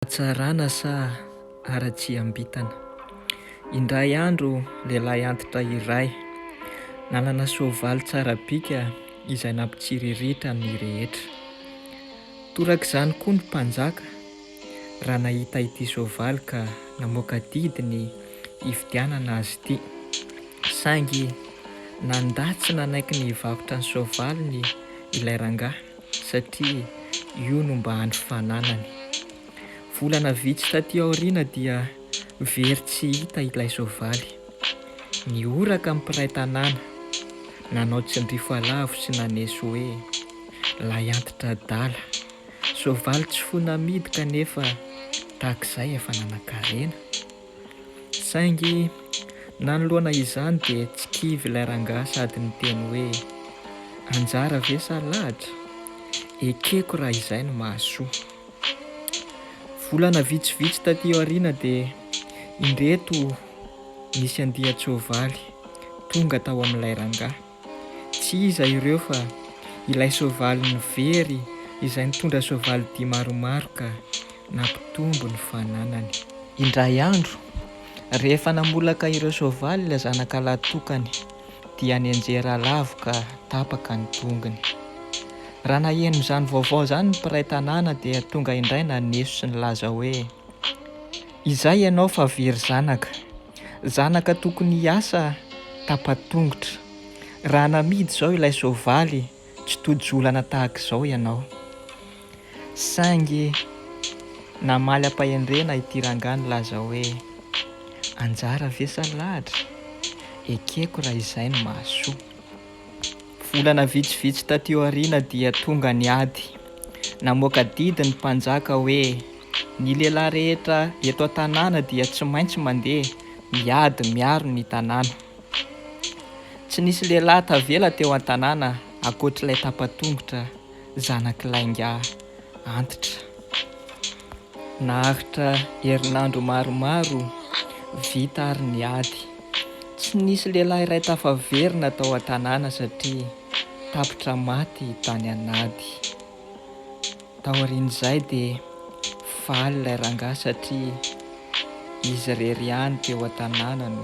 Hatsarana sa haratsiam-bintana? Indray andro, lehilahy antitra iray, nanana soavaly tsara bika izay nampitsiriritra ny rehetra. Torak'izany koa ny mpanjaka, raha nahita ity soavaly ka namoaka didy ny hividianana azy ity. Saingy nandà tsy nanaiky ny hivarotra ny soavaliny ilay rangahy, satria io no mba andro fananany. Volana vitsy taty aoriana dia very tsy hita ilay soavaly. Nihoraka ny mpiray tanàna, nanao tsindrifo alavo sy naneso hoe, lay antitra adala, soavaly tsy fona amidy kanefa tahak'izay efa nanan-karena. Saingy nanoloana izany dia tsy kivy ilay rangahy sady niteny hoe, Anjara ve sa lahatra? Ekeko raha izay no mahasoa. Volana vitsivitsy taty aoriana dia indreto nisy andian-tsoavaly tonga tao amin'ilay rangahy. Tsy iza ireo fa ilay soavalin'ny very izay nitondra soavalidia maromaro ka nampitombo ny fananany. Indray andro, rehefa namolaka ireo soavaly ilay zanakalahy tokany dia nianjera alavo ka tapaka ny tongony. Raha naheno izany vaovao izany ny mpiray tanàna dia tonga indray naneso sy nilaza hoe. Izay ianao fa very zanaka. Zanaka tokony hiasa tapa-tongotra. Raha namidy izao ilay soavaly tsy tojo olana tahaka izao ianao. Saingy namaly am-pahendrena ity rangahy nilaza hoe, anjara ve sa lahatra? Ekeko raha izay no mahasoa. Volana vitsivitsy taty aoriana dia tonga ny ady. Namoaka didy ny mpanjaka hoe ny lehilahy rehetra eto an-tanàna dia tsy maintsy mandeha miady miaro ny tanàna. Tsy nisy lehilahy tavela teo an-tanàna ankoatr'ilay tapa-tongotra. Zanaky lainga antitra. Naharitra herinandro maromaro vita ary ny ady. Tsy nisy lehilahy iray tafaverina tao an-tanàna satria tapitra maty tany an'ady. Taorian'izay dia faly ilay rangahy satria izy irery ihany teo an-tanàna no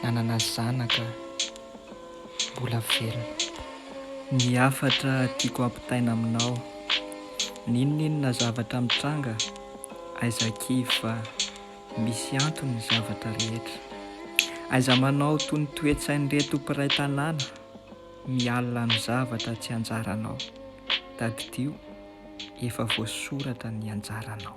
nanana zanaka. Mbola velona. Ny hafatra tiako ampitaina aminao, n'inon'inona zavatra mitranga, aiza kivy fa misy antony ny zavatra rehetra. Aiza manao toy ny toe-tsain'ireto mpiray tanàna mialona amin'ny zavatra tsy anjaranao. Tadidio, efa voasoratra ny anjaranao.